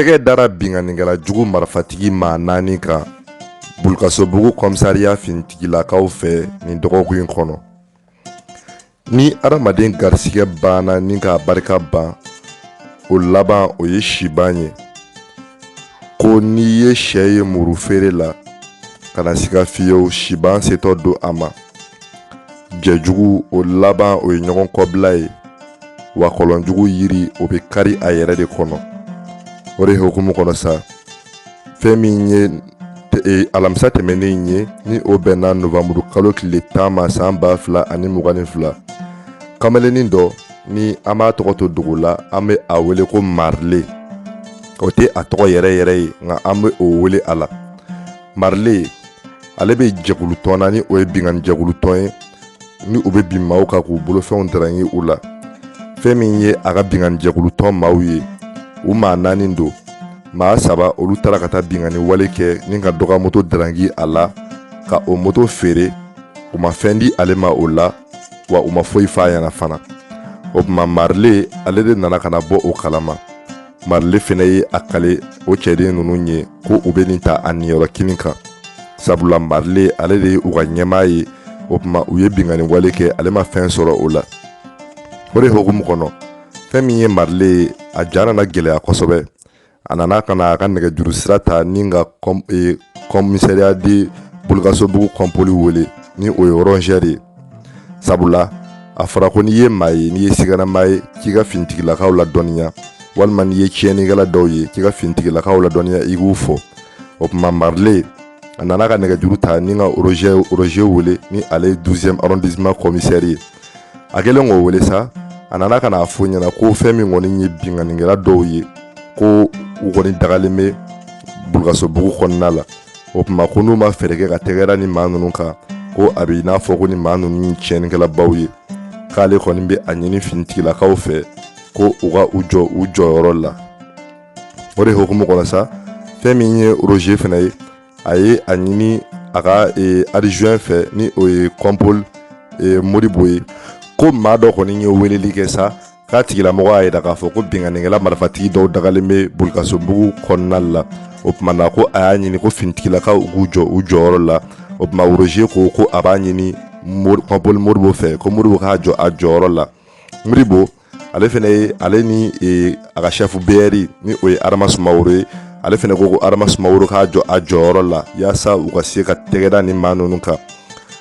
tɛgɛ dara binkannikɛla jugu marifatigi maa naani kan bulukasobugu kɔmisariya finitigilakaw fɛ nin dɔgɔkun in kɔnɔ ni adamaden garisigɛ banna ni k'a barika ban o laban o ye siban ye ko n'i ye sɛ ye muru feere la kana siga fiyewu siban setɔ don a ma jɛjugu o laban o ye ɲɔgɔn kɔbila ye wa kɔlɔnjugu yiri o bɛ kari a yɛrɛ de kɔnɔ o de hukumu kɔnɔ sa fɛn min ye e, alamisa tɛmɛnen ye ni o bɛnna novanburu kalo tile tan ma san ba fila ani mugan ni fila kamalennin dɔ ni an b'a tɔgɔ to dogo la an bɛ a wele ko marile o tɛ a tɔgɔ yɛrɛ yɛrɛ ye nka an bɛ o wele a la marile ale bɛ jɛkulutɔn na ni o ye binkanni jɛkulutɔn ye ni u bɛ bin maaw kan k'u bolofɛnw darangi u la fɛn min ye a ka binkanni jɛkulutɔn maaw ye u maa naani don maa saba olu taara ka taa binkanni wale kɛ ni ka dɔ ka moto darangi a la ka o moto feere u ma fɛn di ale ma o la wa u ma foyi fɔ a ɲɛna fana o tuma marile ale de nana ka na bɔ o kalama marile fana ye a kali o cɛden ninnu ye ko u bɛ nin ta a niyɔrɔ kelen kan sabula marile ale de ye u ka ɲɛmaa ye o tuma u ye binkanni wale kɛ ale ma fɛn sɔrɔ o la o de hukumu kɔnɔ fɛn min ye marile ye a ja nana gɛlɛya kosɛbɛ a nana ka na a ka nɛgɛjuru sira ta ni ka kɔmisariya di bulukasobugu kɔnpoli wele ni o ye roger ye sabula a fɔra ko n'i ye maa ye n'i ye sigannamaa ye k'i ka finitigilakaw ladɔnniya walima n'i ye tiɲɛnikɛla dɔw ye k'i ka finitigilakaw ladɔnniya i k'u fɔ o tuma marile a nana ka nɛgɛjuru ta ni ka roger wele ni ale ye 12ème arrondissement commissaire ye a kɛlen k'o wele sa a nana ka n'a fɔ a ɲɛna ko fɛn min kɔni ye binkannikɛla dɔw ye ko u kɔni dagalen bɛ bulukasobugu kɔnɔna la o tuma ko n'u ma fɛɛrɛ kɛ ka tɛgɛ da nin maa ninnu kan ko a bɛ i n'a fɔ ko nin maa ninnu ye tiɲɛnikɛlabaw ye k'ale kɔni bɛ a ɲini finitigilakaw fɛ ko u ka u jɔ u jɔyɔrɔ la o de hukumu kɔnɔ sa fɛn min ye roger fana ye a ye a ɲini a ka e, adjoint fɛ ni o ye kɔnpol e, moribo ye ko maa dɔ kɔni ye weleli kɛ sa k'a tigilamɔgɔ y'a yira k'a fɔ ko binkannikɛla marifatigi dɔw dagalen bɛ bulukasobugu kɔnɔna la o tuma na ko a y'a ɲini ko finitigilakaw u k'u jɔ u jɔyɔrɔ la o tuma roger ko ko a b'a ɲini kɔnpoli moribo fɛ ko moribo k'a jɔ a jɔyɔrɔ la moribo ale fana ye ale ni e, a ka sɛfu beyɛri ni o ye adama sumaworo ye ale fana ko ko adama sumaworo k'a jɔ a jɔyɔrɔ la yaasa u ka se ka tɛgɛ da nin maa ninnu kan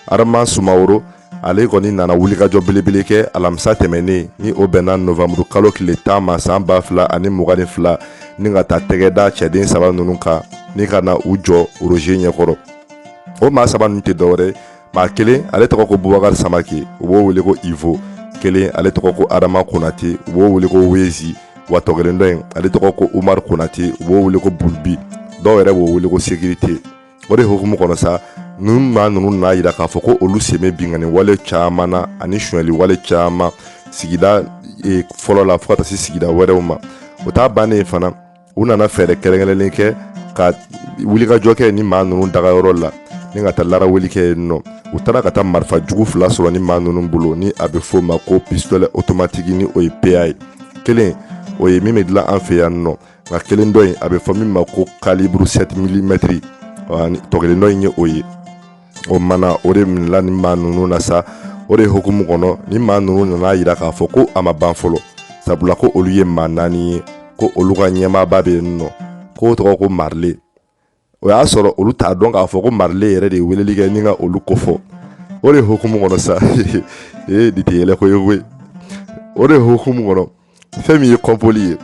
adama sumaworo ale kɔni nana wulikajɔ belebele kɛ alamisa tɛmɛnen ni o bɛnna novanburu kalo tile tan ma san ba fila ani mugan ni fila ni ka taa tɛgɛda cɛden saba ninnu kan ni ka na u jɔ roze ɲɛkɔrɔ o maa saba ninnu tɛ dɔwɛrɛ maa kelen ale tɔgɔ ko bubakari samake u b'o wele ko ivo kelen ale tɔgɔ ko adama konate u b'o wele ko wezi wa tɔ kelen dɔ in ale tɔgɔ ko umaru konate u b'o wele ko bulubi dɔw yɛrɛ b'o wele ko sekirite o de hukumu kɔnɔ sa ni maa ninnu n'a yira k'a fɔ ko olu sen bɛ binkanni wale caman na ani sonyali wale caman sigida e, fɔlɔ la fo ka taa se sigida wɛrɛw ma o ta bannen fana u nana fɛɛrɛ kɛrɛnkɛrɛnlen kɛ ka wulikajɔ kɛ ni maa ninnu dagayɔrɔ la ni ka taa laraweli kɛ yen nɔ u taara ka taa marifa jugu fila sɔrɔ ni maa ninnu bolo ni a bɛ f'o ma ko pistolɛ otomatiki ni o ye peya ye kelen o ye min bɛ dilan an fɛ yan nɔ nka kelen dɔ in a bɛ fɔ min ma ko kaliburu 7 milimɛtiri tɔ kelen dɔ in ye o ye o mana o de minɛla ni maa ninnu na sa o de hukumu kɔnɔ ni maa ninnu nana a yira k'a fɔ ko a ma ban fɔlɔ sabula ko olu ye maa naani ye ko olu ka ɲɛmaaba bɛ yen nɔ k'o tɔgɔ ko marile o y'a sɔrɔ olu t'a dɔn k'a fɔ ko marile yɛrɛ de ye weleli kɛ ni ka olu kofɔ o de hukumu kɔnɔ sa ee de tɛ yɛlɛko ye koyi o de hukumu kɔnɔ fɛn min ye kɔnpoli ye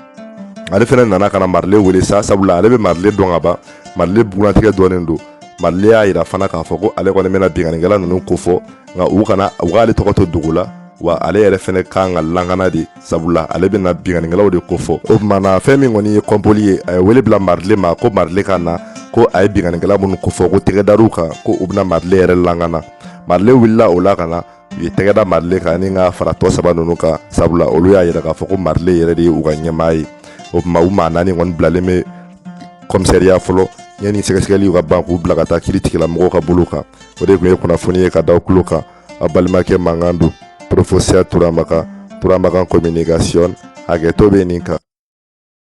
ale fana nana ka na marile wele sa sabula ale bɛ marile dɔn ka ban marile bugunnatigɛ dɔnnen don marile y'a yira fana k'a fɔ ko ale kɔni bɛna binkannikɛla ninnu kofɔ nka u kana u k'ale tɔgɔ to dogo la wa ale yɛrɛ fana kan ka lakana dɛ sabula ale bɛna binkanikɛlaw de kofɔ o tuma na fɛn min kɔni ye kɔnpoli ye a ye wele bila marile ma ko marile ka na ko a ye binkanikɛla minnu kofɔ ko tɛgɛ dara u kan ko u bɛna marile yɛrɛ lakana marile wulila o la ka na u ye tɛgɛda marile kan ni ka fara tɔ saba ninnu kan sabula olu y'a yira k'a fɔ ko marile yɛrɛ de ye u ka ɲɛmaa ye o tuma u maa naani kɔni bilalen bɛ kɔmisɛriya fɔlɔ yanni sɛgɛsɛgɛliw ka ban k'u bila ka taa kiri tigilamɔgɔw ka bolo kan o de tun ye kunnafoni ye ka da kulo kan a balimakɛ mankan don porofosiya turamakan turamakan kominikasiyɔn hakɛto bɛ nin kan